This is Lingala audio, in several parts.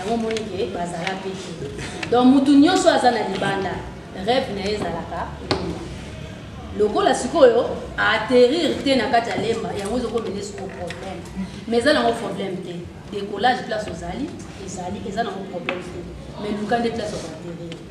yango omoni ke bazala mpe te donc motu nyonso aza na libanda rêve na ye ezalaka lemba lokola sikoyo aatterrir te na kati ya lemba yango ezokomene siko problème mais eza nango problème te décollage place ozali ezali eza nango problème te mais luka nde place okoatterrir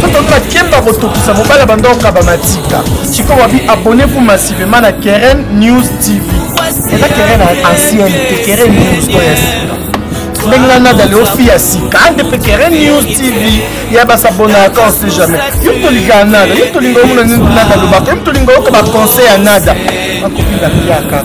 totoka kemba kotokisa mobali ya banda okaba matika sikoyo wabi abonne vous massivement na keren news tv eza keren ancienne te keren news oyo ya sika ndenge na nada leo fi ya sika ande mpe keren news tv ya basabonaka on sait jamais yo tolinga ya nada yo tolinga omona nini nada alobaka yo tolinga oyoka baconseil ya nada akopinda piaka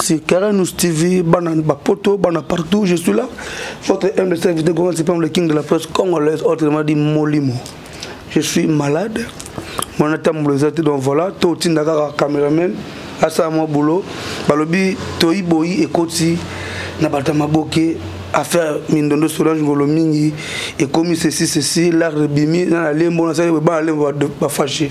C'est Karenus TV, Banane Bapoto, Banane partout, je suis là. Votre M de serviteur Goran Sipam, le king de la presse congolaise, autrement dit Molimo. Je suis malade. Mon état me donc voilà. Tout le monde caméraman. asala mwa bolo balobi toyi boyi ekoti na bato ya maboke affaire mindondo solange ngolo mingi ekomi ceci ceci lare ebimi na na lembo nasali boye bana lembo bafashe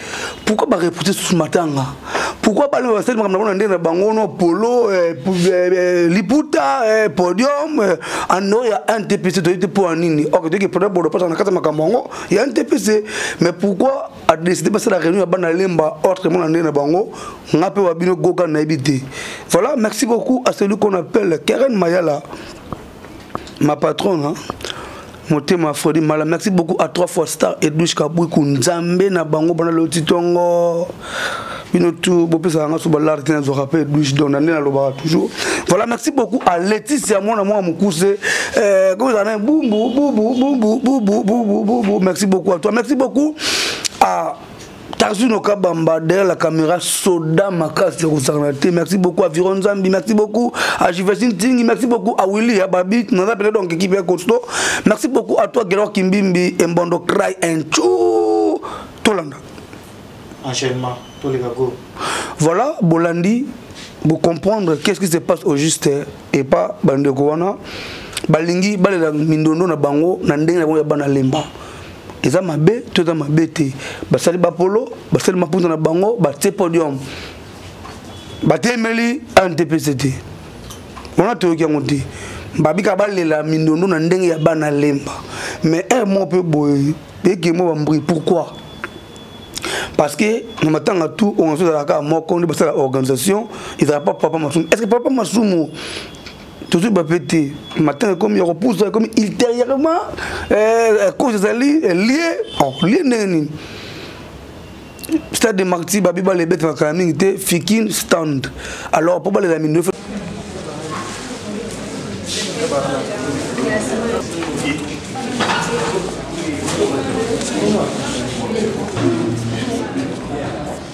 pourquoi ba repousser sous matanga pourquoi bana oyo basali makambo na ndenge na bango no polo eh, eh, eh, liputa podium ando ya ntpc toyebi te mpo ya nini ok toyeke pona bodo mpasa na kati ya makambo yango ya ntpc mais pourquoi adeside basala réunion ya bana lemba ordre mona ndenge na bango nga mpe wa bino goga nayebi te voilà merci beaucoup à celui qu'on appelle karen mayala ma patronne hein? motema fredi mala merci beaucoup à trois fois star edouche kabwiku nzambe na bango bana loti tongo bino tu bopesaka nga so balare te nazwaka mpe edouche don na nde nalobaka toujours voilà merci beaucoup à leticia mwana mwa mokuse eh, kozala na bumbu bubu bubu bubu bubu merci beaucoup à toi merci beaucoup à Tarzuno Kabamba derrière la caméra soda makasi ya kosangana te merci beaucoup à Viron Zambi merci beaucoup à Jivestin Tingi merci beaucoup à Willy à Babi naza pele donc équipe ya Costo merci beaucoup à toi Gerard Kimbimbi Embondo Cry and Chou Tolanda enchaînement Toleka go voilà Bolandi vous comprendre qu'est-ce qui se passe au juste et pas Bandeko wana balingi balela mindondo na bango na ndenge na bango ya bana lemba eza mabe to eza mabe te basali bapolo basali maputa na bango batie podium batemeli antpc te wana toyoki yango te babika balela mindondo na ndenge ya bana lemba mais heure moko mpe boye ekemo bambri pourquoi parce que na matanga tout oyo ezalaka moko nde basala organisation ezalaka pa papa masumu est ce que papa masumu tozwi bape te matanga ekomi ya kopusa ekomi ultérieurement eh, cause ezali eh, lie oh, lie ndenge nini stade de marti babi balela ebetaka kala mingi te fikin stand alors mpo balela mingi Thank you.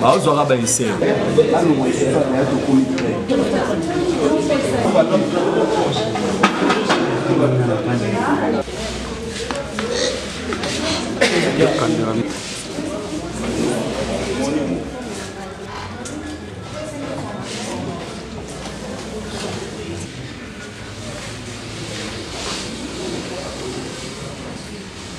baozwaka bainser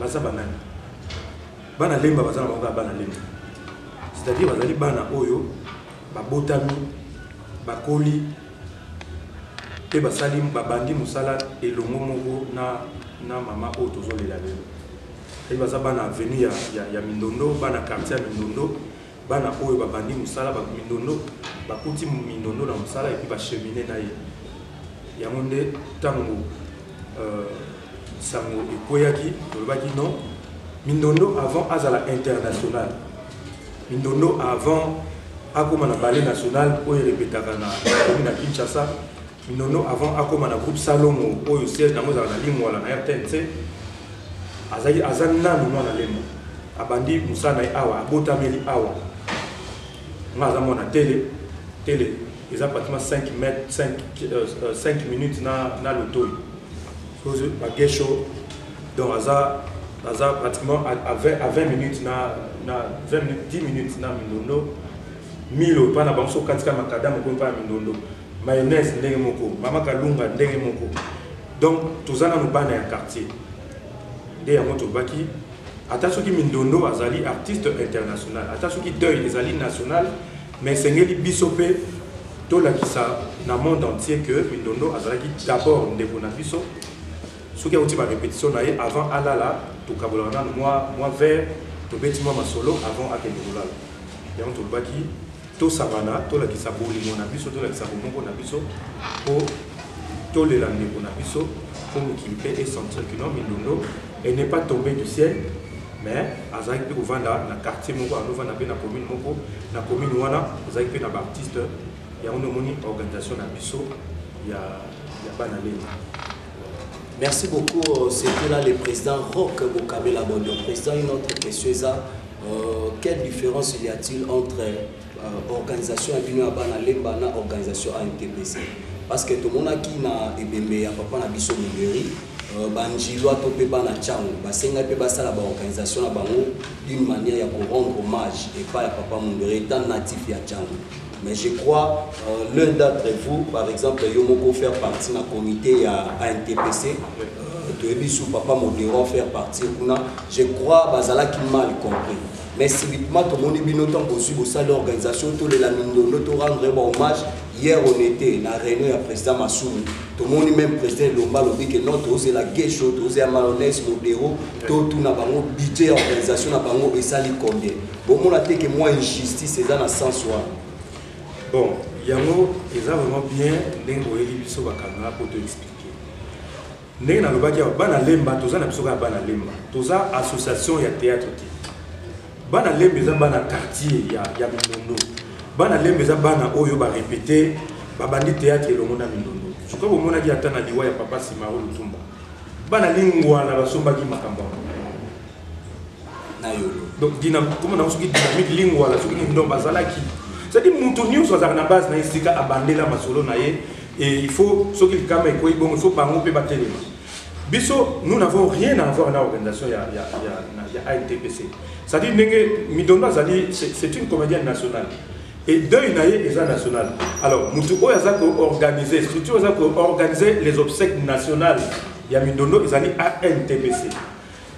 baza banani bana lemba baza na bango kaka bana lemba c'est-à-dire bazali bana oyo babotami bakoli mpe basali babandi mosala elongo moko na, na mama oyo tozolela lelo baza bana avenue ya, ya, ya mindondo bana quartier ya mindondo Bana oyo babandi mosala ba mindondo bakuti mindondo na mosala epi bachemine na ye yango nde ntango euh, sango ekweyaki tolobaki non mindondo avant azala international mindondo avant akoma na bale national oyo erepetaka na komi na kinshasa Nono avant akoma na groupe Salongo oyo siège nango ezala na Lingwala na RTNC azali aza nanu mwana lemba abandi mosala na ye awa abotameli awa nga aza mwana tele tele eza pratiquement 5 mètre 5, euh, 5 euh, minutes na, na lotoi soki bagesho donc aza aza pratiquement à 20, à 20 minutes na, na 20 minutes, 10 minutes na mindondo milo epai na bango soki okatika makadame okomi epai ya mindondo Mayonnaise ndenge moko, mama kalunga ndenge moko. Donc toza nanu bana ya quartier. Nde yango tolobaki ata soki Mindondo azali artiste international, ata soki deuil ezali national, mais esengeli biso mpe tolakisa na monde entier que Mindondo azalaki d'abord ndeko na biso. Soki auti ba repetition na ye avant alala, tokabolaka nanu mwa mwa verre, tobeti mwa masolo avant akende kolala. Yango tolobaki tosangana tolakisa bolingo na biso tolakisa bomoko na biso mpo tolela ndeko na biso mpo mokili mpe esentir kino mindondo et n'est pas tombé du ciel mais azalaki mpe kovanda na quartier moko anovanda mpe na commune moko na commune wana ezalaki mpe na baartiste yango nde omoni organisation na biso ya, ya bana lena Merci beaucoup, euh, c'était là le président Rock Bokabela Bondo. Président, une autre question, ça, euh, quelle différence y a-t-il entre euh, organisation Abino Abana Lemba et organisation ANTPC Parce que tout le monde a qui n'a ebembe ya papa na biso Mugeri, euh, banjilwa to pe bana chango, basenga pe basala ba organisation na bango d'une manière ya ko rendre hommage et pas ya papa Mugeri étant natif ya chango. mais je crois euh, l'un d'entre vous par exemple yo moko faire partie na comité ya antpc euh, toyebi su papa modero faire partie kuna je crois bazalaki mal compris mais subitement tomoni bino ntango bozwi bosali organisation tolela mindondo to rendre ba hommage hier on était na réunion ya président masumu tomoni même président elomba alobi ke non tozela gesho tozela malonese modero totuna bango budget ya organisation na bango esali combien bomona te ke mwa injustice eza na sens wana bon yango eza vraiment bien ndenge oyeli biso bakanga mpo toexplike ndenge nalobaki awa bana lemba toza na biso kaka bana lemba toza association ya théâtre te bana lemba eza bana quartier ya, ya mindondo bana lemba eza bana oyo barepete babandi théâtre elongo na mindondo soki bomonaki ata na liwa ya papa simaro lutumba bana lingwala basombaki makambo yango na yolo donc koma nango soki dynamique lingwala soki nini donc bazalaki cetadi moto nyonso azalaka na base na ye esika abandela masolo na ye e il faut soki likama ekwei bongo il faut bango mpe batelema biso nous n'avons rien à avoir na organisation ya, ya, ya, ya antpc cetadi ndenge midondo azali c'est une comédienne nationale et deuil na ye eza national alors moto oyo aza koorganiser structure aza koorganiser les obsèques nationales ya midondo ezali antpc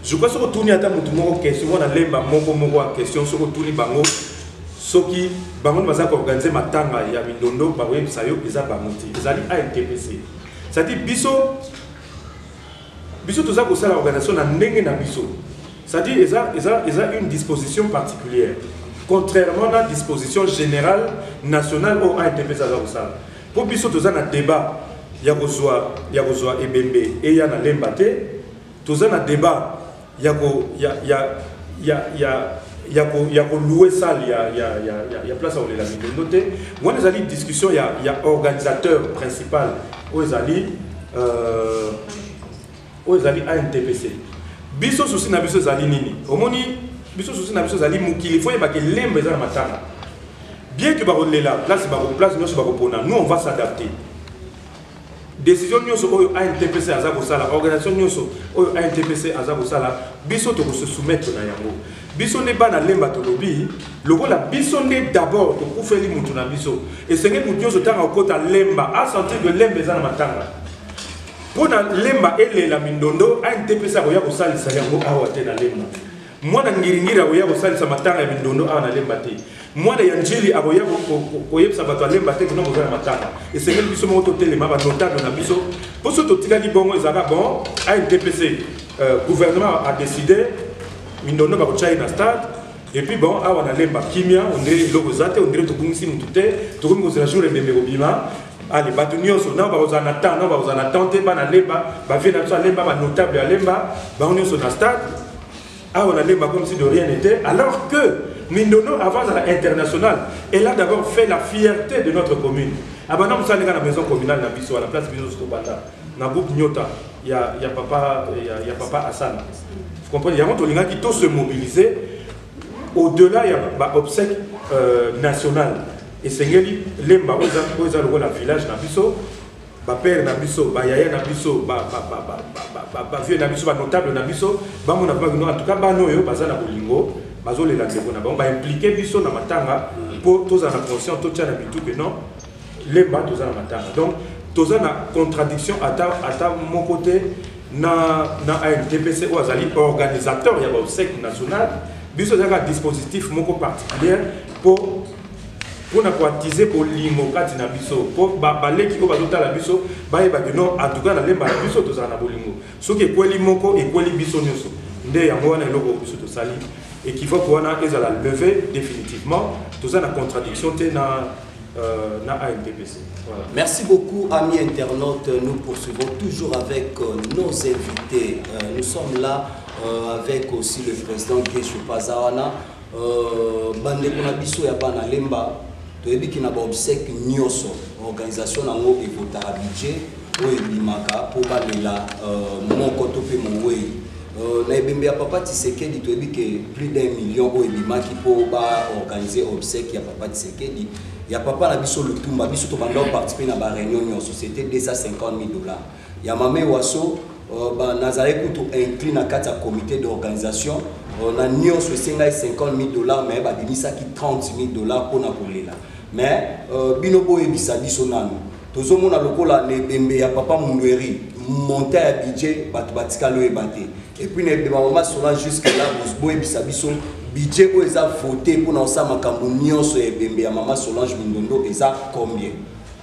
je crois soki otuni ata motu moko question wana lemba moko moko ya question soki otuni bango soki bango nde baza koorganize matanga ya mindondo bakoyebisa yo eza bango te ezali antpc cetadire biso biso toza kosala organisation na ndenge na biso cetadire eza, eza, eza une disposition particulière contrairement na disposition générale nationale oyo antpc aza kosala mpo biso toza na débat ya kozwa ya kozwa ebembe eya na lemba te Toza na debat ya ko ya ya ya ya ya ko ya ko louer salle ya ya ya ya, ya place ya olela mindondo te. Wana ezali discussion ya ya organisateur principal oyo ezali euh, oyo ezali ANTPC. Biso souci na biso ezali nini? Omoni biso souci na biso ezali mokili fo yebaka elemba eza na matanga. Bien que bakolela place bako place nyonso bakopona, nous on va s'adapter. Decision nionso oyo ANTPC aza kosala, organisation nionso oyo ANTPC aza kosala, biso toko se soumettre na yango. Biso nde bana Lemba tolobi, lokola biso nde d'abord tokufeli mutu na biso, esengeli mutu nionso tango akota Lemba a sentir que Lemba eza na matanga. Mpo na Lemba elela mindondo, ANTPC akoya kosalisa yango awa te na Lemba. Mwana Ngiringiri akoya kosalisa matanga ya mindondo awa na Lemba te. Mwana ya N'djili akoya koyebisa bato ya Lemba te kino boza na matanga. Esengeli biso moko totelema ba notable na biso. Mpo soki totikaki bongo ezalaka bon ANDPC euh, gouvernement a décidé mindondo bakotya ye na stade et puis bon awa na Lemba kimia ondire eloko eza te ondire tobungisi motu te tokomi kozela jour ebembe kobima ale bato nyonso nao bakozala na temps nao bakozala na temps te bana lemba bavie na biso alemba banotable ya lemba bango nyonso na stade awa na lemba comme si de rien n'était alors que mindono avant azala international elle a d'abord fait la fierté de notre commune abanda mosala ndeka na maison communale na biso wana place biso tobanda na groupe nyota ya, ya papa, ya, ya papa asana vous comprenez yango tolingaki to se mobiliser au-delà ya baobsèque euh, national esengeli lemba oyo eza lokola village na biso ba père na biso ba yaya na biso ba ba ba ba ba ba ba vieux na biso ba notable na biso bango na bango en tout cas bano yo baza na bolingo bazo lela ndeko na bango ba impliquer biso na matanga pour tous en conscient tout tient na bitu que non les ba tous na matanga donc tous na contradiction ata ata mon côté na na ANTPC ou azali organisateur ya ba obsèques national biso zaka dispositif moko particulier pour mpo na koatize bolingo kati na biso mpo baleki oyo bazotala biso bayeba kino atuka na lemba na biso tozala na bolingo soki ekweli moko ekweli biso nyonso nde yango wana eloko oyo biso tosali ekivoke wana ezala leve définitivement toza na contradiction te na Euh, na ANPPC. Voilà. Merci beaucoup, amis internautes. Nous poursuivons toujours avec euh, nos invités. Euh, nous sommes là euh, avec aussi le président Guéchou Pazawana. Euh, bandeko na biso ya bana lemba toyebi ki na baobsèque nyonso organisation na yango ekotaka budget oyo ebimaka mpo balela euh, moko to mpe mowei euh, na ebembe ya papa tisekedi toyebi ke plus d'un million oyo ebimaki mpo baorganize obsèque ya papa tisekedi ya papa na biso lutumba biso tobanda oparticipe na bareunion nyonso c'était 250 000 dollars Ya Mame Waso, euh, nazalaki kutu inclus na kati ya comité d'organisation euh, na nyonso esengaki 50 000 dollars mais babimisaki 30 000 dollars mpo na kolela mais euh, bino boyebisa biso nanu tozomona lokola na ebembe ya papa mundueri monta ya budget bato batikali oyeba te epuis na ebemba mama sola jusque là boyebisa biso budget oyo eza vote mpo na kosala makambo nyonso ya ebembe ya mama solange mindondo eza combien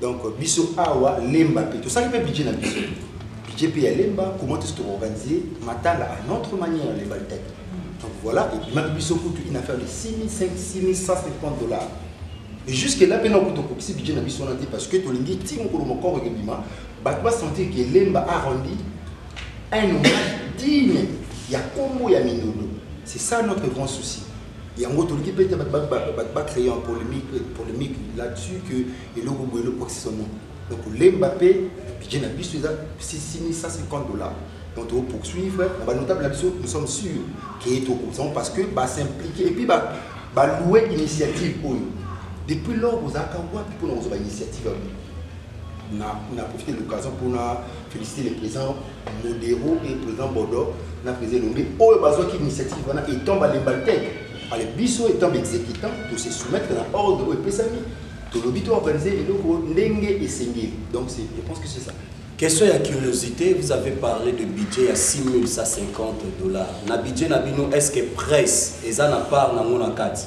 donc biso awa lemba mpe tosali mpe budget na biso budget mpe ya lemba comment est-ce que organiser matanga à notre manière lemba litaki donc voilà ebimaki biso kutu une affaire de 6550 dollars et jusque là mpe na kutu okokisi budget na biso wana te parce que tolingi ti mokolo mokoro ekebima bato basentir ke lemba a rendi un hommage digne ya kombo ya mindondo c'est ça notre grand souci yango tolingi mpe te bato bacreye en polémique là-dessus que eloko boye eloko akisama donc kolemba mpe budget na biso eza 6150 dollars donc tokopoursuivre na banotable na biso nous sommes sûrs ke tokozango parce que basimplike et puis baloue initiative oyo depuis lors ozalaka wapi mpona kozwa bainitiative na profite l'occasion mpona féliciter le président Modero et président Bodo na président Elombe oyo bazwaki initiative wana étant balembalteke ale biso étant baexécutant to se soumettre na ordre oyo epesami tolobi to organise eloko ndenge esengeli donc je pense que c'est ça Question à curiosité, vous avez parlé de budget à 6150 dollars. Na budget na bino, est-ce que presse, et ça n'a pas dans mon carte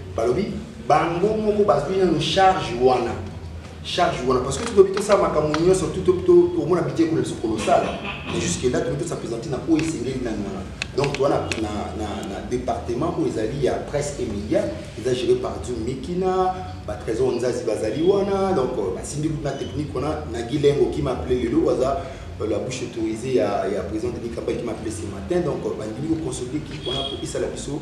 balobi bango moko bazwi nano charge wana charge wana parce que tokoki tosala makambo nyonso tomona bidye kuna biso kolosala mais jusque là tokoki tosapresente na oyo esengeli nano wana donc toa na département oyo ezali ya presse et média eza géré par du mikina batrésor nzazi bazali wana donc euh, basimbi kuna technique wana na gilengo kima ple lelo aza euh, la bouche autorisée ya, ya président denis kambaki m'a appelé ce matin donc euh, bandimi kokonsolider kipe wana po esala biso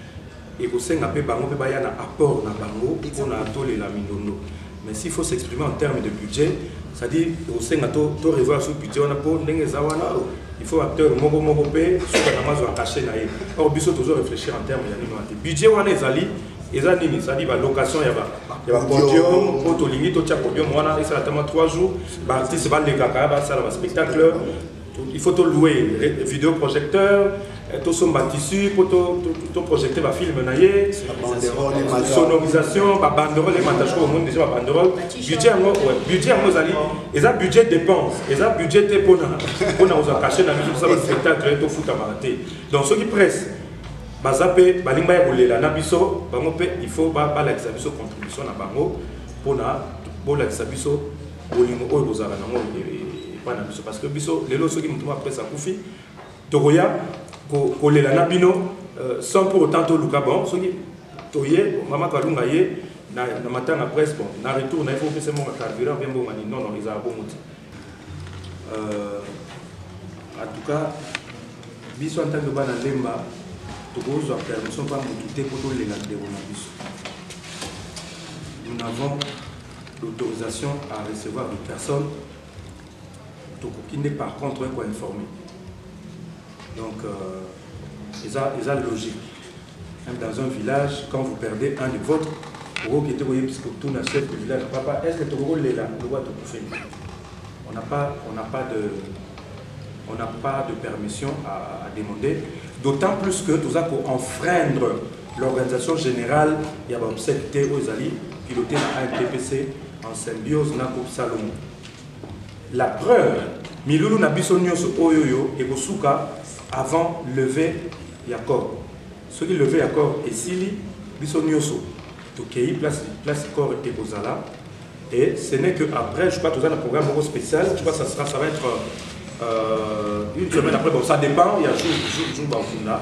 Ekosenga pe bango pe baya na apport na bango pona tolela mindondo mais s'il faut s'exprimer en terme de budget c'est à dire ekosenga to revoir sur budget wana po ndenge eza wana il faut acteur moko moko pe suka nango azua cachet naye or biso tozo reflechir en terme ya nini wana te budget wana ezali eza nini c'est à dire ba location ya ba ya ba podium po tolingi totia podium wana esala ata mwa 3 jours ba artistes balekaka basala ba spectacle il faut to louer vidéo projecteur eh, to somba tissu po to to projecter ba film na ye sonorisation ba banderole mata je crois monde déjà ba banderole budget yango ouais budget yango zali eza budget dépense eza budget te pona pona oza caché na biso ça ba spectacle to futa ba te donc soki presse baza pe balinga ya kolela na biso bango pe il faut ba balakisa biso contribution na bango pona bolakisa biso bolingo oyo kozala na ngo epai na biso parce que biso lelo soki motu moko apres akufi tokoya kolela na bino euh, sans pour autant toluka bon soki toye mama kalunga ye na matanga presse bon na retour na ye fo opesa mbongo carburant mpe mbongo nini non non ezala bongo te euh, en tout cas biso en tant que bana lemba tokozwa permission mpa motu te mpo tolela ndeko na biso nous n'avons L'autorisation à recevoir de personnes tokoki nde par contre ko informer donc euh, eza eza logique même dans un village quand vous perdez un de votre okoki te koyebisa kotuna chef de village papa est ce que tokokolela lokola tokufeli on n'a pas on n'a pas de on n'a pas de permission à, à demander d'autant plus que toza ko enfreindre L'organisation generale ya ba obsèques te oyo ezali pilote na AMPPC en symbiose na groupe Salomon. La preuve, milulu na biso nyonso oyo oyo ekosuka avant levée ya corps. Soki levée ya corps esili, biso nyonso tokei place place corps ekozala et ce n'est que après je crois toza na programme moko spécial je crois ça sera ça va être euh, une semaine après bon ça dépend il y a jour jour jour bakunda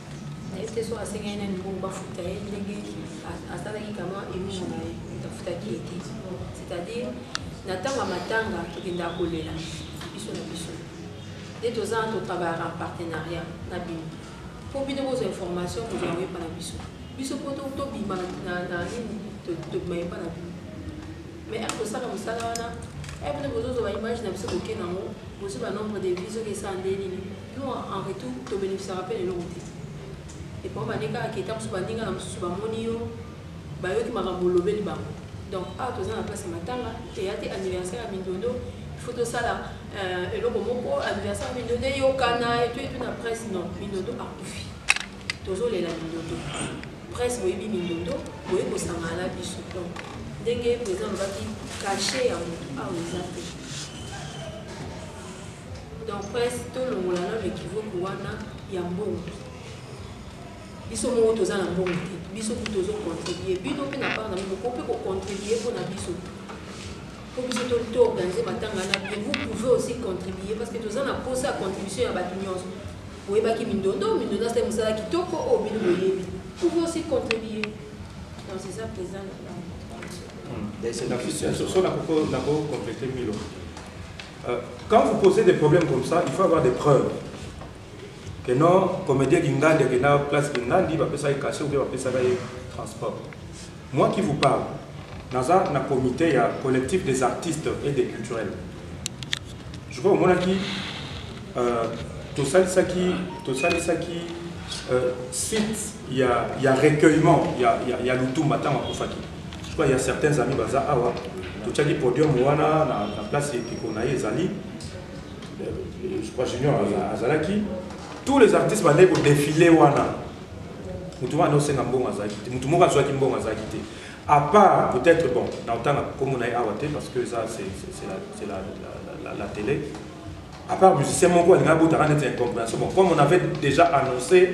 Est-ce que soit asengaki nani mpo bafuta ye ndenge asalaki kama emission na ye tafutaki ye te c'est-à-dire na ntango ya matanga tokendaka kolela biso na biso nde toza totravaillaka en partenariat na bino mpo bino kozwa information kozwa yango epa na biso biso mpo tobima na nini tobima epa na bino mais ako sala musala wana eh bino bozo zo ba image na biso boke nango bozo ba nombre de vues oke sa nde nini nous en retour to bénéficiera pe lelo te et pour baneka aketa musu baninga na musu ba moni yo ba yoki makambo lobeli bango donc awa toza na place matanga eya te anniversaire ya mindondo faut tosala euh, eloko moko anniversaire ya mindondo eyokana etu etu na presse non mindondo akufi Tozo lela mindondo presse boyebi mindondo boye kosangana na biso donc ndenge president alobaki kashe ya motu awa eza te donc presse tolongola nano ekivoki wana ya mbongo biso moko toza na mbongo te biso kutu tozocontribue bino mpe na part na bino ko mpe kocontribue mpo na biso mpo biso toorganize matanga na bien vous pouvez aussi contribue parce que toza na mposa ya contribution ya bato nyonso Boyebaki mindondo, mindondo asali mosala kitoko oyo bino boyebi. Pouvez aussi contribuer dans ces actes des uns euh, Quand vous posez des problèmes comme ça, il faut avoir des preuves. Que non, comédien Gingandi, que non, place Gingandi, va faire ça caché ou bien va faire ça transport. Moi qui vous parle naza na comite ya collectif des artistes et des culturels je crois omonaki euh, tosalisaki tosalisaki euh, site ya, ya recueillement ya, ya, ya lutumba ntango akufaki je crois ya certains amis baza awa totyaki podium wana na, na place ekiko na ye ezali euh, je crois junior azalaki tous les artistes bandeki kodefile wana moto wana osenga mbongo azalaki te moto moko azwaki mbongo azalaki te à part peut-être bon na otanga kombo na ye awa te parce que ça c'est la, c'est la, la, la, la télé à part musicien moko alinga abotaka neti incompréhension bon comme on avait déjà annoncé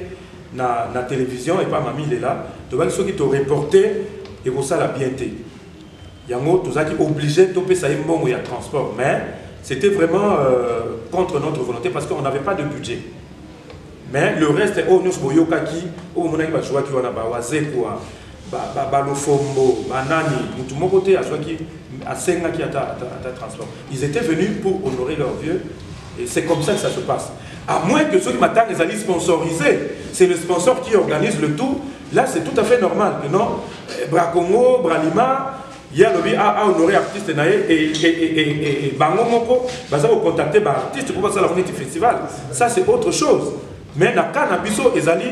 na, na télévision epa mami lela tobaki soki toreporte ekosala bien te yango tozalaki obligé topesa ye mbongo ya transport mais c'était vraiment euh, contre notre volonté parce qu'on n'avait pas de budget mais le reste oyo nyonso boyokaki oyo bomonaki bazuwaki wana bawazekwa balofombo banani motu moko te azwaki asengaki ata ata transport ils étaient venus pour honorer leur vieux et c'est comme ça que ça se passe à moins que soki matanga ezali sponsorisé c'est le sponsor qui organise le tout là c'est tout à fait normal que non eh, bracongo bralima ye alobi a a honore artiste na ye e bango moko baza ko contacter ba artiste mpo basala neti festival ça c'est autre chose mais na cas na biso ezali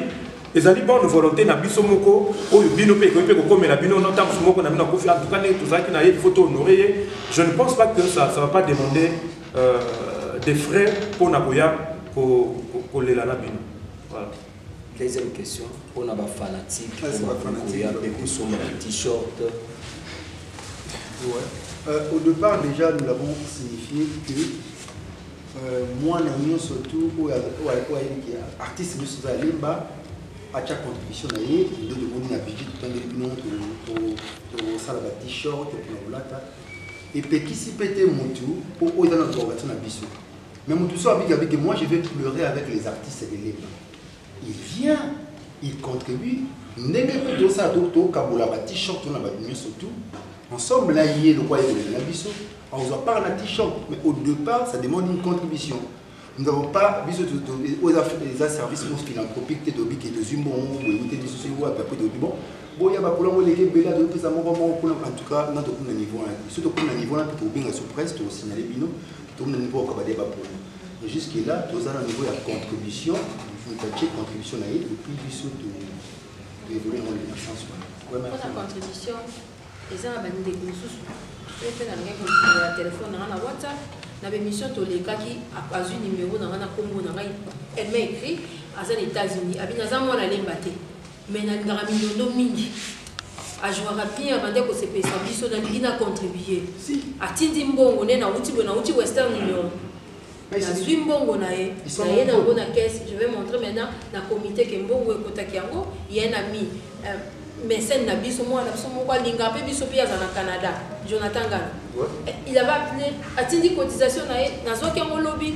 ezali bonne volonté na biso moko oyo bino mpe ekoki mpe kokomela bino no ntango moko na bino akufi en tout cas ndenge tozalaki na ye il faut to honore ye je ne pense pas que ça ça va pas demander euh, des frais mpo na koya kolela na bino voilà Deuxième question pona ba fanatiques ah, ba fanatique ya pe kusomba t-shirt. Ouais. Euh, au départ déjà nous l'avons signifié que euh, moi na mio surtout oyo ayebi ke artiste nyonso oza alemba atya contribution na ye nde tomoni na budget totangeli bino tosala ba t-shirt pona kolata epekisi pe te motu mpo oyo eza na organisation na biso Mais Moutoussa Abig Abig, moi je vais pleurer avec les artistes de Lemba. Il vient, il contribue. ndenge mpe tosala tokabola ba t-shirt to na bato nyonso tout ensemble na ye lokwa yekoleli na biso azwa part na t-shirt mais au départ ça demande une contribution nous n'avons pas biso oyo eza service mo philanthropique te tobi ke tozwi mbongo boyebi te biso soki wapi apres tobi bon boya bakolo yango eleki ebele azopesa moko moko kuna en tout cas na tokuna niveau wana biso tokuna niveau wana mpe tokobenga surprise tokosignale bino tomoni mpo okaba de baponi mais jusque là toza na niveau ya contribution moto atie contribution na ye epuis biso toévolue yango na sens wana contribution eza na bandeko mosusu oyo mpe nalingaki kofungola telefone na ngai na whatsapp na bémission tolekaki azwi nimero na ngai na nkombo na ngai elle m'a écrit aza na états-unis abi naza mwana alemba te mais nalingaka mindondo mingi ajouaka bien abande kosepelisa biso nalingi na contribue atindi mbongo nde nauti boye nauti western union nazwi mbongo na ye naye nango na caisse je vais montrer maintenant na comité ke mbongo ekotaki yango ye na mi euh, mécène na biso mwana na biso moko alinga mpe biso mpe aza na canada jonathan ngana eh, il avait appelé atindi cotisation na ye nazwaki yango lobi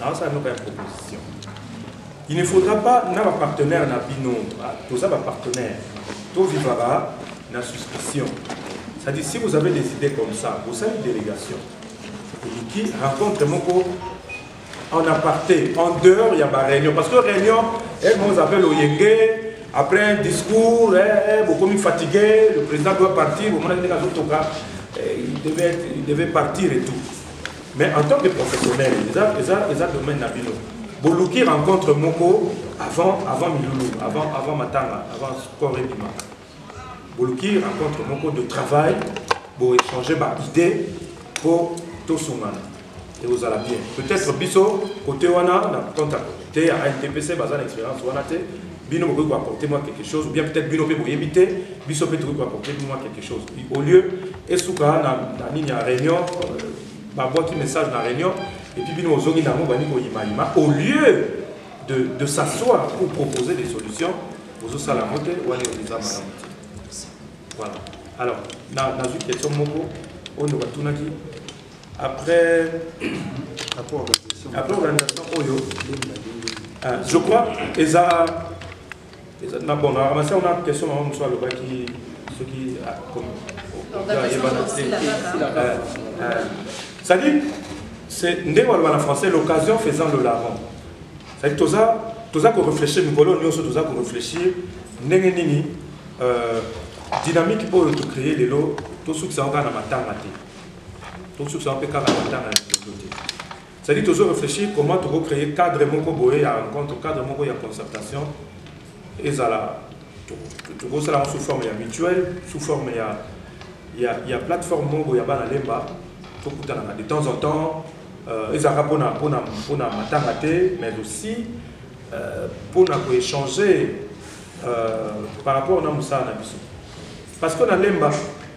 nazosala moko ya proposition il ne faudra pas na bapartenaire na bino ah, toza bapartenaire tovivaka na suspicion c'est-à-dire si vous avez des idées comme ça bosali délégation oluki rencontre moko en aparté en dehors ya baréunion parce que réunion elmos appelle oyenge après un discours eh, eh, bokomi fatigué le président doit partir bomonaki ndenge azotoka eh, il devait partir et tout Mais en tant que professionnel, eza, eza, eza domaine na bino. Boluki rencontre moko avant, avant Milulu, avant, avant Matanga, avant Sport et Bima. Boluki rencontre moko de travail, pour échanger par idée, pour tout son Et vous allez bien. Peut-être biso, côté wana, na compte à côté, à NTPC, bazan expérience wana te, bino bokoki ko apporter moi quelque chose ou bien peut-être bino pe boyebi te biso pe tokoki ko apporter moi quelque chose au lieu esuka na na nini ya réunion euh, babwaki message na réunion et puis bino ozongi nango bani koyimayima au lieu de, de s'asseoir pour proposer des solutions ozosala yango te wana eza malamu te voilà alors nazwi question moko oyo batunaki Après, après organisation, après organisation oyo, ah, je crois, eza, eza na bon, na ramasi on a question na mwa le baki ce qui a comme c'est-à-dire c'est nde waloba na français l'occasion faisant le larron c'est-à-dire toza toza ko réfléchir mikolo nyonso toza ko réfléchir ndenge nini euh, dynamique oyo tocree lelo tosukisa yango kaka na matanga te tosusu yango mpe kaka na ntanga ya liboso te cetadi tozo réfléchir comment toko créer cadre moko boye ya rencontre cadre moko ya concertation ezala tokosala yango sous forme ya mutuelle sous forme ya, ya, ya plateforme moko ya bana lemba tokutanaka de temps en temps euh, ezalaka mpona mpona mpona matanga te mais aussi euh, mpona koéchanger euh, par rapport na mosala na biso parce que na lemba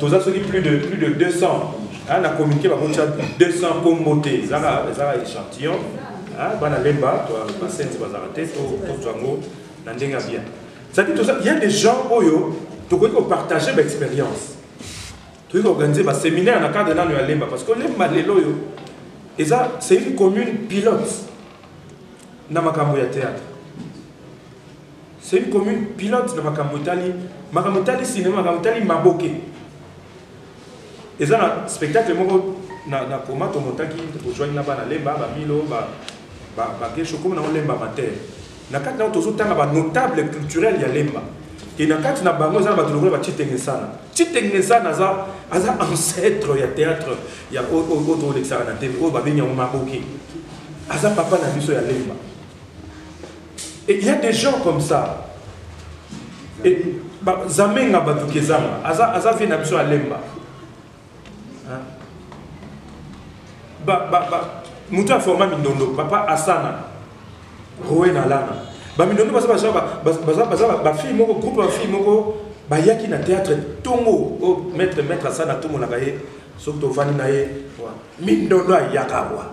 toza soki plus de plus de 200 hein, na communiqué bakotia 200 kombo te ezaka ezaka échantillon hein, bana lemba basenzi bazalaka te tozwa yango na ndenge ya bien cetadi toza ya des gens oyo tokoki kopartage baexpérience tokoki koorganize baséminaire na cadre nano ya lemba parce que lemba lelo oyo eza c'est une commune pilote na makambo ya théâtre C'est une commune pilote na makambo etali makambo etali cinéma, makambo etali maboke. Eza na spectacle moko na na koma to motaki ojwaki na bana Lemba, ba Milo, ba ba ba Gesho comme na Lemba Mater. Na kati na tozo tanga ba notable culturel ya Lemba. Et na kati na bango eza na bato lokola ba Chitengesana. Chitengesana aza aza ancêtre ya théâtre ya oyo oyo to lekisaka na télé oyo babengi yango maboke. Aza papa na biso ya Lemba. Et il y a des gens comme ça. Et ba, zamenga batu kezanga. Aza aza vie na biso alemba. Hein? Ba ba ba mutu a forma mindondo papa Asana. Roe na lana. Ba mindondo baza baza baza baza ba fille moko groupe ba fille moko bayaki na théâtre tongo oh, maître maître Asana tongo na baye soki tovandi na ye mindondo ayaka wa.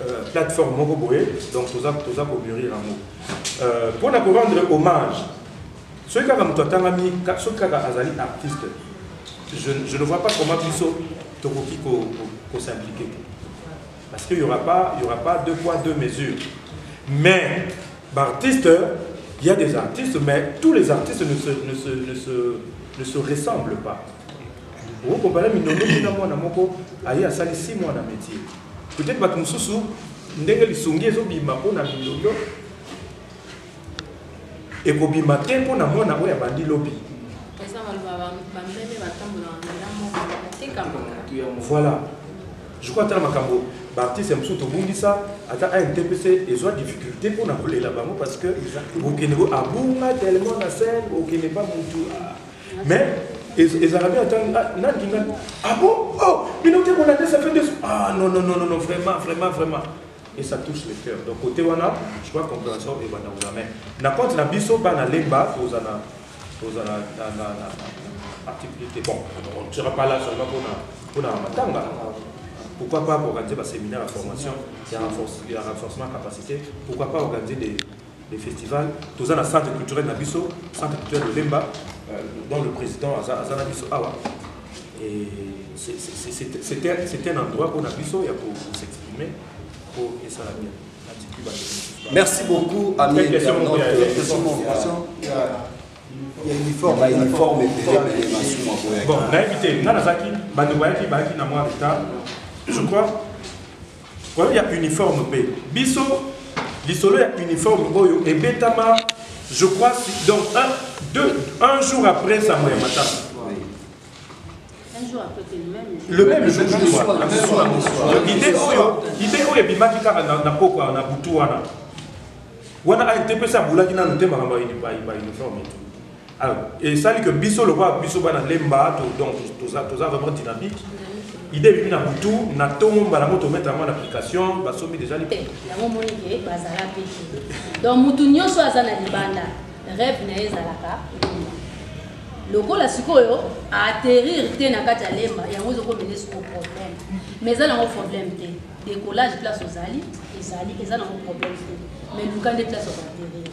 Euh, plateforme moko boye donc toza toza ko mûrir yango euh, mpo na ko rendre hommage soki kaka moto atangami soki kaka azali artiste je, je ne vois pas comment biso tokoki kosimplike te parce que y aura pas y aura pas deux poids deux mesures mais baartiste il y a des artistes mais tous les artistes ne se, ne se, ne se, ne se ressemblent pas okokompare mindondo bina mwana moko aye asali si mwana métier Peut être bato mosusu ndenge lisongi ezobima mpo na mindondo ekobima te mpo na mwana oyo abandi lobi voilà je crois ata na makambo baartiste mosusu tobungisa ata antpc ezwa difficulté mpo na kolela bango parce que okende abunga tellement na scène okende pa motu Mais ezalaka bien ata nani kinga ah bon oh bino te kolanda ça fait deux ah non non non non vraiment vraiment vraiment et ça touche le cœur donc côté wana je crois compréhension et bana wana mais na compte na biso bana lemba tozana tozana na na na activité bon on ne sera pas là seulement pour na pour na matanga pourquoi pas organiser ba séminaire à formation il y a renforcement capacité pourquoi pas organiser des le festival toza na centre culturel na biso centre culturel de lemba euh, dont le président aza, aza na biso awa et c'est un endroit mpona biso ya s'exprimer mpo esala bien Merci beaucoup, ami internaute. Il y a uniforme, il y a uniforme et puis les masous moi pour Bon, naïvité, nanazaki, bandeko yaki, bayaki na moi retard. Je crois Problème ya uniforme pe biso lisolo ya uniforme oyo ebetama je crois donc un, deux, un jour après sango ya matanga le même jour du soir donc idée oyo idée oyo ebimaki kaka na poko na butu wana wana ayete mpe se abulaki nanu te makambo ya uniforme Ah, et ça dit que biso le quoi biso bana lemba to donc tout ça tout ça vraiment dynamique. Idée bimi na butu na tongo mbala moto mettre en application ba sombi déjà li. La mo moni ke bazala pe. Donc mutu nyoso aza na libanda rêve na ezalaka. lokola sikoyo aatterrir te na kati ya lemba yango ezokomene sikoyo problème mais eza nango problème te décollage place ozali ezali eza nango problème te mais luka nde place okoatterrir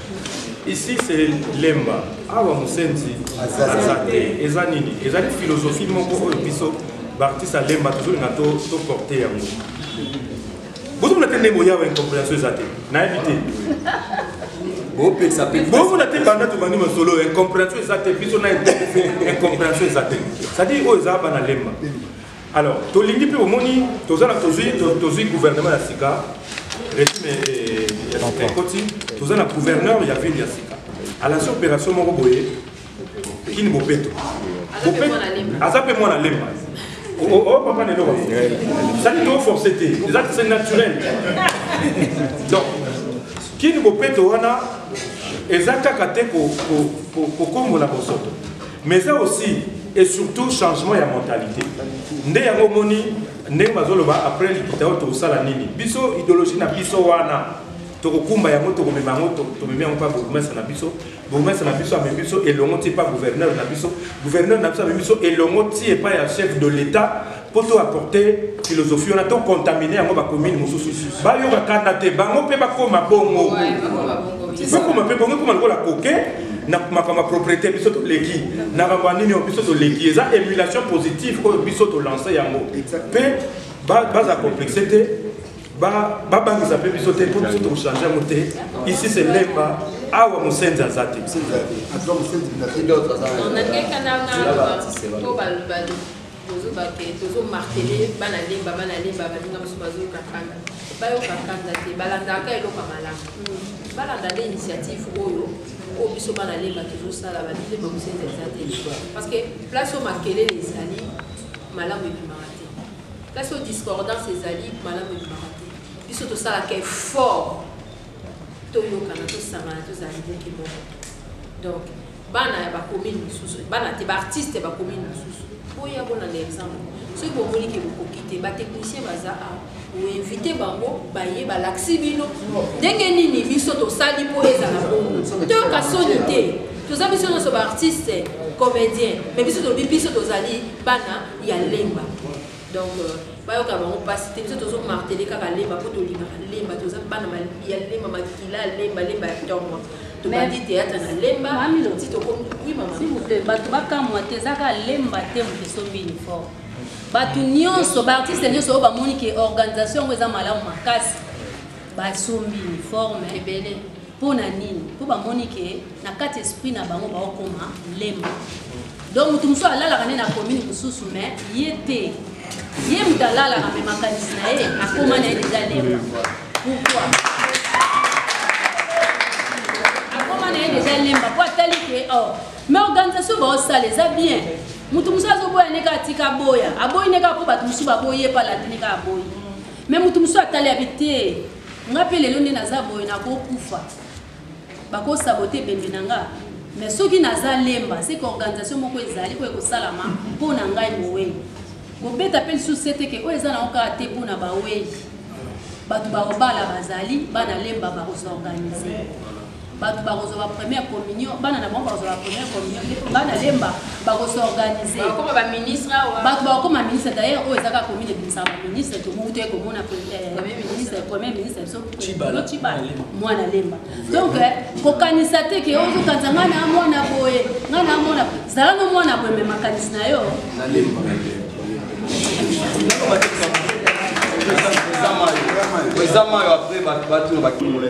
ici c'est lemba awa mosenzi aza te eza nini ezali philosophie moko oyo biso baartiste ya lemba tozolinga toporte yango bozomona te ndenge boyawa incomprehension eza te nayebi te bopekisa mpe bomona te banda tobandi masolo incomprehension eza te biso na incomprehension eza te cetadire oyo eza bana lemba Alors, tolingi mpe omoni toza na tozwi tozwi gouvernement ya sika regime eh, ya sika ekoti toza na gouverneur ya ville ya sika alasi opération moko boye kini bopeto aza mpe mwana lemba opapa na eloko sali toforce te eza c'est naturel donc kini bopeto wana eza kaka te kokombola bosoto mais eza aussi et surtout changement ya mentalité nde yango omoni ndenge bazoloba après likita oyo tokosala nini biso idéologie na biso wana tokokumba yango tokomema yango tomemi yango mpa bourgmestre na biso bourgmestre na biso amemi biso elongo ti mpa gouverneur na biso gouverneur na biso amemi biso elongo ti epai ya chef de l'état mpo to apporte philosophie wana to contamine yango bakomine mosusu bayoka kanda te bango mpe bakoma bongo bakoma mpe bongo ekoma lokola koke na makambo ya propriété biso toleki na makambo ya nini oyo biso toleki eza émulation positive oyo biso tolance yango mpe baza complexe te babangisa mpe biso te mpo biso tokochange yango te ici se lemba awa mosenzi aza te Bozoba ke tozo martele bana lemba bana lemba baninga mosusu bazoyoka kanda bayoka kanda te balandaka eloko ya malamu balanda nde initiative oyo oyo biso bana lemba tozosala babilemba mosenzi eza te parce que place oyo makelele ezali malamu ebimaka te place oyo discordance ezali malamu ebimaka te biso tosalaka effort toyokana tosangana tozala liboke moko donc bana ya bakomini mosusu bana te baartiste ya bakomini mosusu boya bolanda exemple soki bomoni ke bokoki te batechnicien baza a oinvite bango baye balakisi bino ndenge nini biso tosali mpo ezala bongo toyoka soni te toza biso nyonso baartiste comédien mais biso tolobi biso tozali bana ya lemba donc bayoka bango mpasi te biso tozo martele kaka lemba mpo tolingaka lemba toza bana ya lemba makila ya lemba lemba ya ntongo tobandi teyatre na lemba ti tokomi oui mama s'il vous plaît bato bakamwa te eza kaka lemba te moto esombi uniforme bato nyonso baartiste nyonso oyo bamoni ke organisation yango eza malamu makasi basombi uniforme ebele Mpo na nini? Mpo bamoni ke na kati esprit na bango baokoma lemba. Donc moto mosusu alalaka nde na commune mosusu mais ye te. Ye moto alalaka me makanisi na ye akoma na ye deja lemba. Pourquoi? Akoma na ye deja lemba mpo atali ke oh, mais organisation baosala eza bien moto mosusu azoboya ndenge atika aboya aboyi ndenge mpo bato mosusu baboyi ye mpe alatini kaka aboyi me moto mosusu atali abi te nga pe lelo nde naza boye nakokufa bakosabote ebembe na nga mais soki naza lemba seke organisation moko ezali oyo ekosalama mpo na ngai mowei kobeta mpe lisusu se teke oyo eza nango kaka te mpo na bawei bato bakobala bazali bana lemba bakosorganize bato bakozwa ba première communion bana na bango bakozwa ba première communion ngai nalemba bakosorganize bato bakokoma ministre d'ailleurs oyo ezaka komine ebimisaka baministre tomoku toye komona ministre premier ministre biso cibala mwana lemba donc kokanisa te ke ozokanisa ngai na mwana boye ngai na mwana zala no mwana boye me makanisi na yo eza mayo apres bato bakimola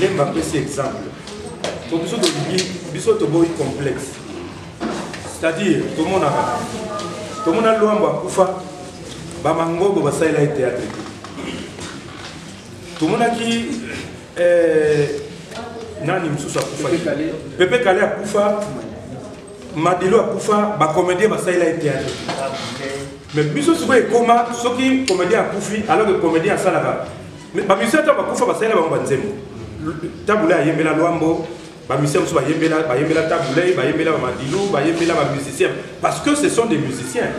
lemba apesi exemple po biso tolingi biso toboyi complexe c'est-à-dire tomonaka tomona lwambo akufa bamangobo basalela ye théâtre te tomonaki eh, nani mosusu akufa pepe kale akufa madilo akufa bacomédien basalela ye théâtre mais biso sikoyo ekoma soki comédien akufi alors que comédien asalaka Mais ba musiciens ta bakufa basalela bango ba nzembo. Tabula ayembela Luambo, ba musiciens mosusu bayembela bayembela Tabulei, bayembela ba Madilu, bayembela ba musiciens parce que ce sont des musiciens.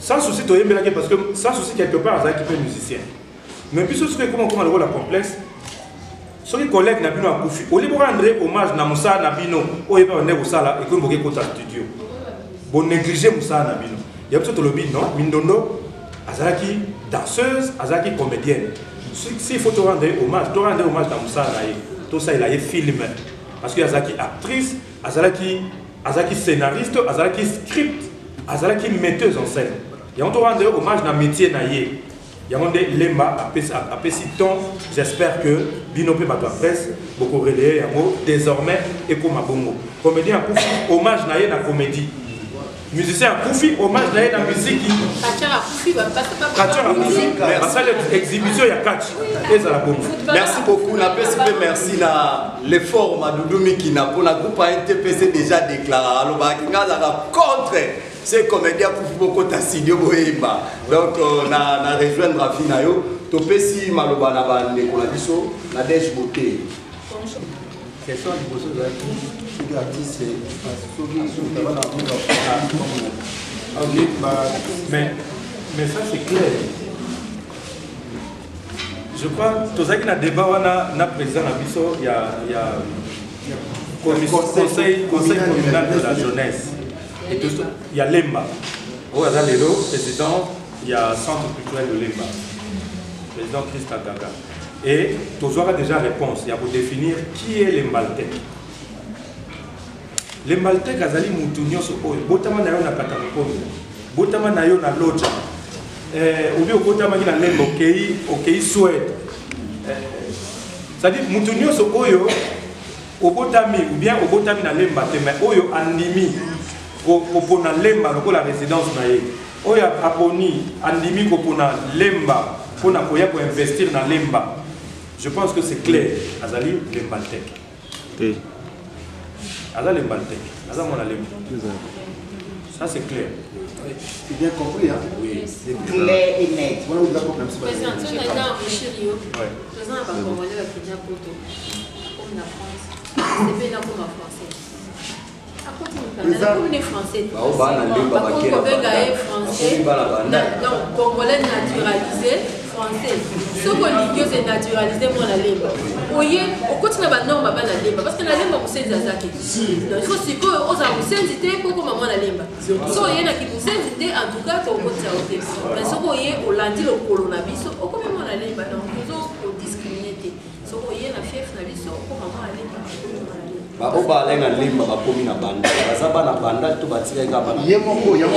Sans souci toyembelaki parce que sans souci quelque part azalaki mpe musicien. Mais biso soki ekoma koma lokola complexe soki collègue na bino akufi olie borendre hommage na mosala na bino oyo epa bande kosala ekomi boke kota studio bonéglige mosala na bino ya biso tolobi non mindondo azalaki danseuse azalaki comédienne s'il faut torendre ye hommage torendre ye hommage na mosala na ye tosalela ye filme parce que azalaki actrice azalaki azalaki scénariste azalaki script azalaki metteuse en scène yango torendre ye hommage na métier na ye yango nde lemba apesi ton j'espère que bino mpe bato ya presse bokoreleye yango désormais ekoma bongo comédien akufi hommage na ye na comédie musicien akufi hommage na ye na miziki basali exhibition ya catch ezala bongo merci beaucoup napesi mpe merci na l'effort madudu mikina mpo na groupe ya ntpc déjà déclara alobaki nga azalaka contre se comédien akufi bokota studio boyemba donc euh, na, na rejoindre afi na yo topesi maloba na bandeko na biso na dege bote question ya liboso ezalaki soki artiste soki soki abana amonga mais mais ça c'est clair je crois tozalaki na débat wana na président na biso ya ya conseil conseil communal de la jeunesse ya lemba oyo aza lelo président ya centre culturel de lemba président christa gaga et tozwaka déjà réponse ya kodefinir qui est lembaltec lembaltec azali motu nyonso oyo botama na yo na katakokomi botama na yo na loja eh, obi okotamaki na lemba okei okei swede eh, cestadire motu nyonso oyo Obotami ou bien obotami na Lemba te mais oyo andimi kopona Lemba lokola residence na ye. Oyo aponi andimi kopona Lemba pona koya ko investir na Lemba. Je pense que c'est clair. Azali Lembaltec. Te. Aza Lembaltec. Aza mwana Lemba. Ça c'est clair. C'est bien compris, hein Oui. C'est clair et net. Voilà où il a compris. Président, tu as un Congolais qui vient à Poto. Comme la France. C'est bien comme la français. Akomi français. Bao bana limba bakela. Bakomi kobenga ye français. Bakomi bana banda. Donc congolais naturalisé. français soki olingi oze naturalise mwana lemba oye okoti na banorme bana lemba parce que na lemba mosenzi aza te donc ifo sikoyo ozala mosenzi te mpo okoma mwana lemba so oye na kimosenzi te en tout cas tokokotisa yo te mais soki oye olandi lokolo na biso okomi mwana lemba donc baoyo balai na lemba bakomi na banda baza bana banda to batikaki kaka bana ye moko yango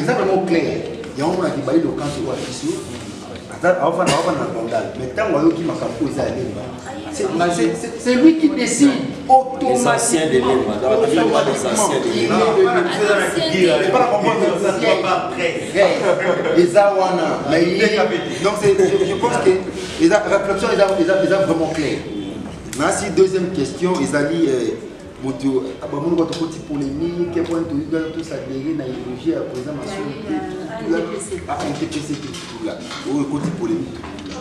eza bango claire yango mona kibali lokanso oyo akisi yo aofana aofana na bandal mais ntango ayoki makambo oyo eza ya lemba C'est lui qui décide automatiquement. eza wana donc je pense que eza réflexion eza vraiment claire nasi deuxième question ezali euh, moto bamoni bato koti polémique mpona toyika tosadere na idéologie ya président masolo te tutula intpc te tutula oyo ekoti polémique tutula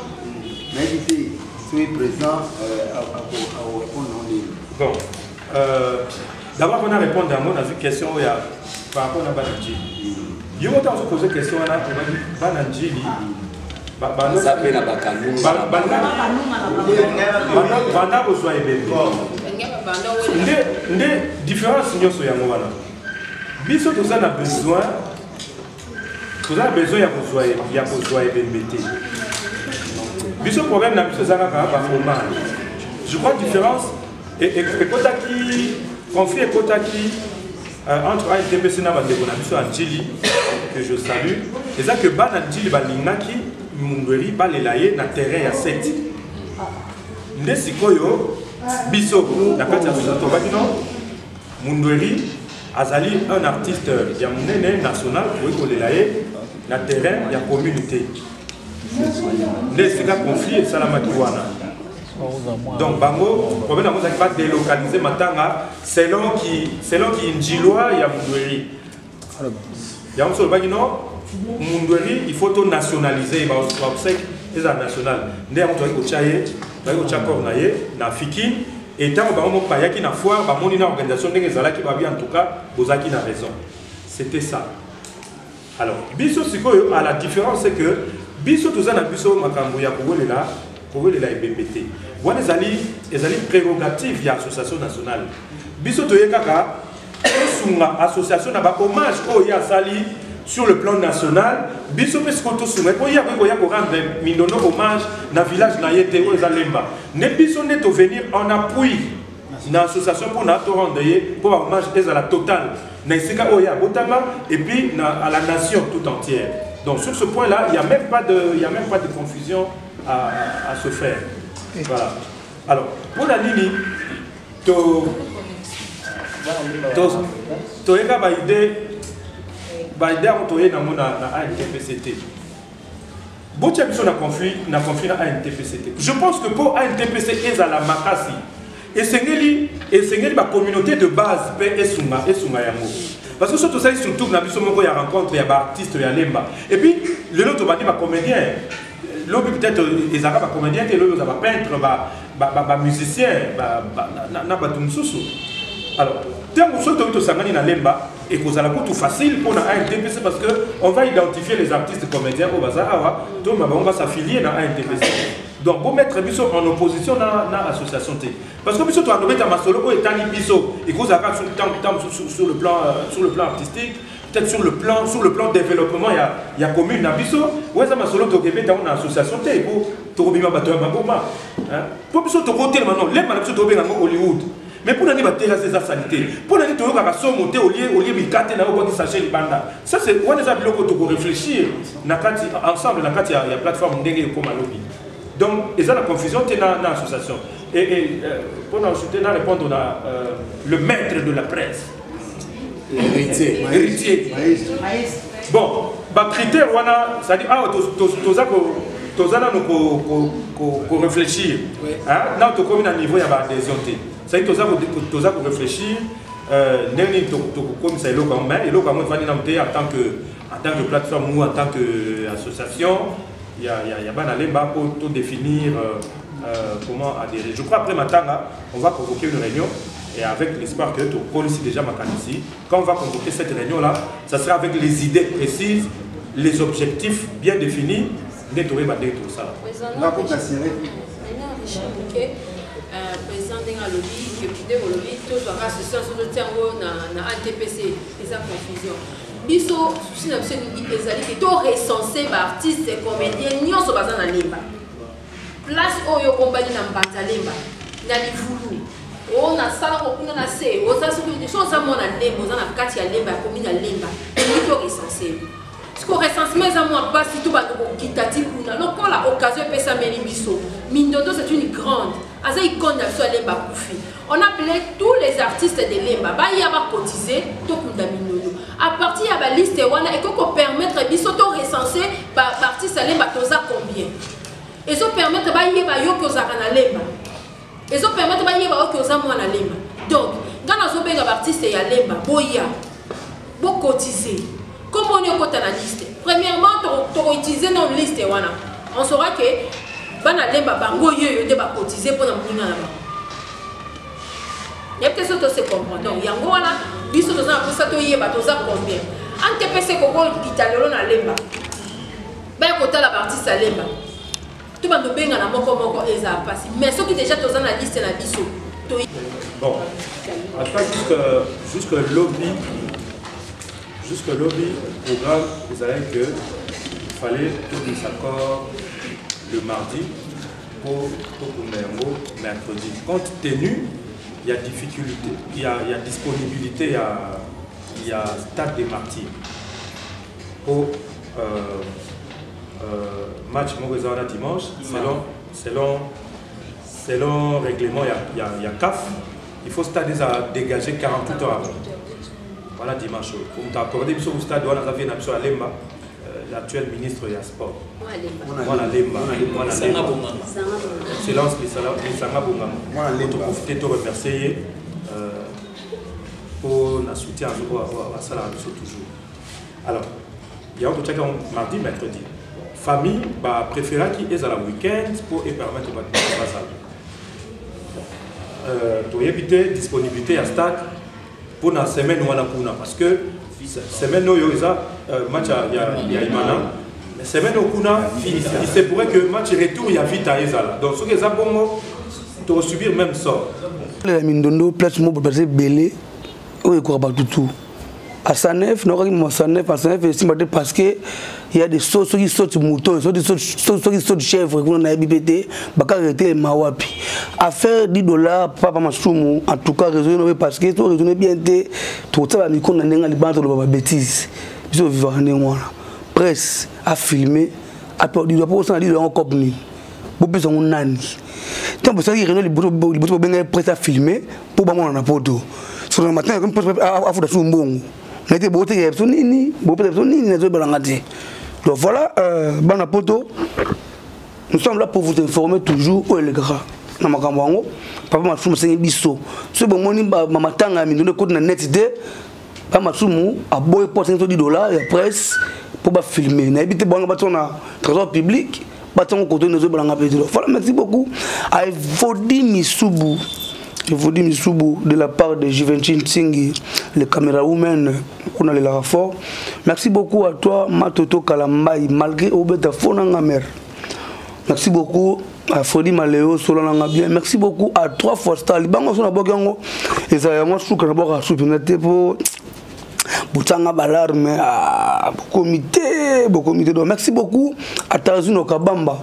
nayebi te soki président akorépondre yango ndenge bon euh, d'abord mpona répondre yango nazwi question oyo ya par rapport na bana njili yo moko ntango ozopose question wana obaki bana njili baza mpe na bakalubanda kozwa ebembe nde différence nyonso yango wana biso toza na besoin toza na besoin ya kozwa ya kozwa ebembe te biso problème na biso eza kaka bafromage je crois différence ekotaki conflit ekotaki euh, entre adpc na bandeko na biso ya ntili que je salue eza que bana ntili balingaki mundweri balela ye na terrain ya 7 nde sikoyo biso na kati ya tobaki no Mundweri azali un artiste ya munene national okoki kolela ye na terrain ya commune te nde esika conflit esalamaki wana donc bango problème yango ezalaki ba délocaliser matanga selon ki selon ki ndjilwa ya mundweri yango so olobaki no mundweri il faut to nationalise ye baobsèque ezala national nde yango tozalaki kotya ye tozalaki kotya corps na ye na fikine e ntango bango moko bayaki na foire bamoni na organisation ndenge ezalaki babi en tout cas bozalaki na raison c'était ça alors biso sikoyo à la différence c'est que biso toza na biso makambo ya kowelela kowelela ebembe te wana ezali ezali prérogative ya association nationale biso toye kaka tosunga association na ba hommage oyo ye asali sur le plan national biso mpe sikoyo tosunga mpo ye akoki koya korendre mindondo hommage na village na ye te oyo eza lemba nde biso nde tovenir en appui na association mpo na torendre ye mpo bahommage ezala total na esika oyo ye abotama et puis na, à la nation tout entière donc sur ce point là il y a même pas de, il y a même pas de confusion à, à se faire voilà alors mpo na nini to to toyeka ba idée ba idée yango toye nango na na ANTPC te botya biso na conflit na conflit na ANTPC te je pense que mpo ANTPC ezala makasi esengeli esengeli ba communauté de base mpe esunga esunga yango parce que soki tosali surtout na biso moko ya rencontre ya baartiste ya lemba et puis lelo tobandi bacomédien lobi peut-être ezalaka bacomédien te lobi oza bapeintre ba ba ba, ba musiciens ba, ba, na, na bato mosusu alors ntango soki toki tosangani na lemba ekozala kutu facile mpo na antpc parce que on va identifier les artistes comédiens oyo baza awa to ma bango basaffilie na antpc donc bomettre biso en opposition na, na association te parce que biso toandobeta masolo oyo etali biso ekozala kaka sur le plan, euh, sur le plan artistique peut-être sur le plan sur le plan développement ya ya commune na biso oyo eza masolo tokebe ntango na association te po tokobima bato ya maboma po biso tokotelema no lemba na biso tokobenga yango hollywood mais mpo na nini batelasi eza sali te mpo na nini toyokaka somo te olie olie mikate na yo obwaki sache libanda ça c'est wana eza biloko tokorefléchir na kati ensemble na kati ya, ya plateforme ndenge ekoma lobi donc eza na confusion te na, na association et, et euh, mpo na ensuite na répondre na euh, le maître de la presse Héritier. Héritier. Maestro. Maestro. Bon, ba critères wana, c'est-à-dire ah toza ko toza na ko ko ko réfléchir. Hein? Na to komi na niveau ya ba adhésion te. C'est-à-dire toza ko toza ko réfléchir euh ndenge nini to to komi sa eloko yango mais eloko yango efandi na mte en tant que en tant que plateforme ou en tant que association ya ya ya bana lemba pour tout définir euh, Euh, comment adhérer. Je crois après Matanga, on va convoquer une réunion et avec l'espoir que tu connais déjà Makanisi. Quand on va convoquer cette réunion-là, ça sera avec les idées précises, les objectifs bien définis. Neto et Badé, tout ça. Président Denga Lobi, député Lobi, tout soit à ce sens, tout tient na ATPC, c'est confusion. biso susi na biso ezali te to recense baartiste comédien nyonso baza na lemba Place oyo okombani na Mbanzalemba na Livulu o na sala ko kuna na se oza soki so oza mwana lemba oza na kati ya lemba ya komi na lemba okoki to recense siko recensement eza mwa mpasi to bando kokita ti kuna lokola occasion epesameli biso mindondo c'est une grande aza icone na biso ya lemba akufi On appelait tous les artistes de Lemba, baya ba cotiser, tokunda minunu. À partir ya ba liste wana, et qu'on permettre biso to recenser ba artistes à Lemba toza combien. Et ça permettre ba yeba yo ko zaka na Lemba. Et ça permettre ba yeba yo ko za mwana Lemba. Donc, ngana zo benga ba artistes ya Lemba, boya. Bo cotiser. Comme on est kota na liste. Premièrement, toko utiliser non liste wana. On saura que bana lemba bango yo yo nde ba cotiser pona muna na bango. Y'a que ça to se comprendre. Donc yango wana biso toza na posa to yeba toza combien. An te pese koko italelo na lemba. Ba kotala ba artiste lemba. to bando bengana moko moko eza pasi mais soki deja toza na liste na biso to bon ata jusque jusque lobby jusque lobby programme ezalaki que il fallait tobimisa corps le mardi mpo tokunda yango mercredi compte tenu ya difficulté ya, ya disponibilité ya, ya stade de martyr mpo euh, Euh, match moko eza wana dimanche selon, selon, selon règlement ya, ya, ya caf il faut stade eza dégagé 48 heures avant wana dimanche oyo omutu accordé biso ku stade wana aza vie na biso ya lemba euh, l'actuel ministre ya sport mwana lemba mwana lemba excellence lisanga bongama toprofite to remercie ye mpo euh, na soutien azokoasalaka biso toujours Alors, yango totyaki yango mardi mercredi famille bapreferaki ezala weekend mpo epermettre bato bazala euh, toyebi te disponibilité ya stade mpo na semaine wana kuna parce que semaine oyo eza euh, match ya imana semaine oyo kuna il se pourrait que match retour ya vita ezala donc soki eza bongo tokosubir même sort ya mindondo place moko baza ebele oyo ekoka bato tout à 109 nokaki mama 109 à 109 esimba te parce que ya de so soki soti mouton soki soti chèvre kuna nayebi mpe te bakaka etelema wapi affaire 10 dollar papa masumu en tout cas raisonne nobe parce que to raisonne bien te tokotia bamikro na ndenge libanda toloba babétise biso ovivaka ndenge wana presse afilme aperdido apo osana lido yango cope nini bopesa yango nani ntango bosalaki réunion liboso bobengaki presse afilme mpo bamona na poto soki na matin afuta susu mbongo na ete botekela biso nini bopesa biso nini nazoyebalanga te donc voilà euh, bana poto nous sommes là pour vous informer toujours oyo elekaka na makambo yango papa masumu asengi biso soki bomoni bamatanga ya mindondo ekoti na net te ba masumu aboye mpo asengi todi dola ya presse mpo bafilme nayebi te bwana bato na trésor public batango koto ine ezobalanga mpe tilo fala merci beaucoup aevodi misubu evodi misubu de la part de juventin nsingi le camera woman kuna lelaka fort merci beaucoup à toi matoto kalambai malgré obeta fo nanga mare merci beaucoup à Freddy Maléo Solananga bien merci beaucoup à trois fois star libango so na boki yango ezala yango suka na boka supi na te po botanga balarme ah, bokomi te bokomi te donc merci beaucoup à Tazino Kabamba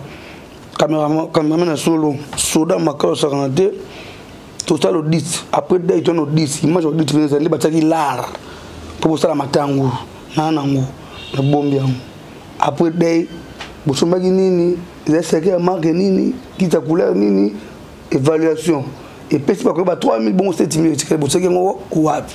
cameraman cameraman na solo soda makao sakana te tosala audit après date wana audit image audit eza nde batiaki lar mpo bosala matango naa nango nabombi yango après date bosombaki nini eza seke ya marke nini kiti ya couleur nini évaluation epesi bakoyeba 3000 bongo 7000 etikali boseki yango wapi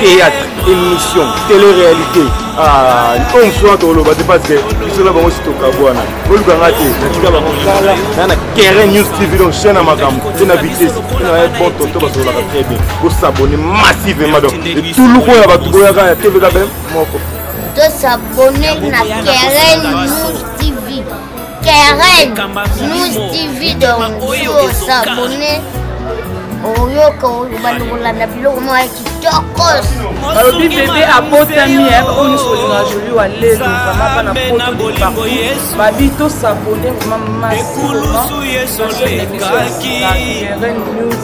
théâtre émission télé réalité ah, oyo mosusu wana tokoloba te parce que biso na bango si tokabwana oluka nga te natika bango kala na na keren news tv donc chaîne ya makambo te na vitesse naye bon tonto basololaka très bien bosabone massivement donc etuluku oyo ya bato boyaka ya tvkbm moko tosabone na keren news Karen News TV donc oza abonné oyoka obanda kolanda biloko moko ya kitokos balobi bebe abotami eh, bakonisi kolinga joli wa lelo vraimen bana poto departout babi tosabone vraimen masikoma nasonekisoakieren news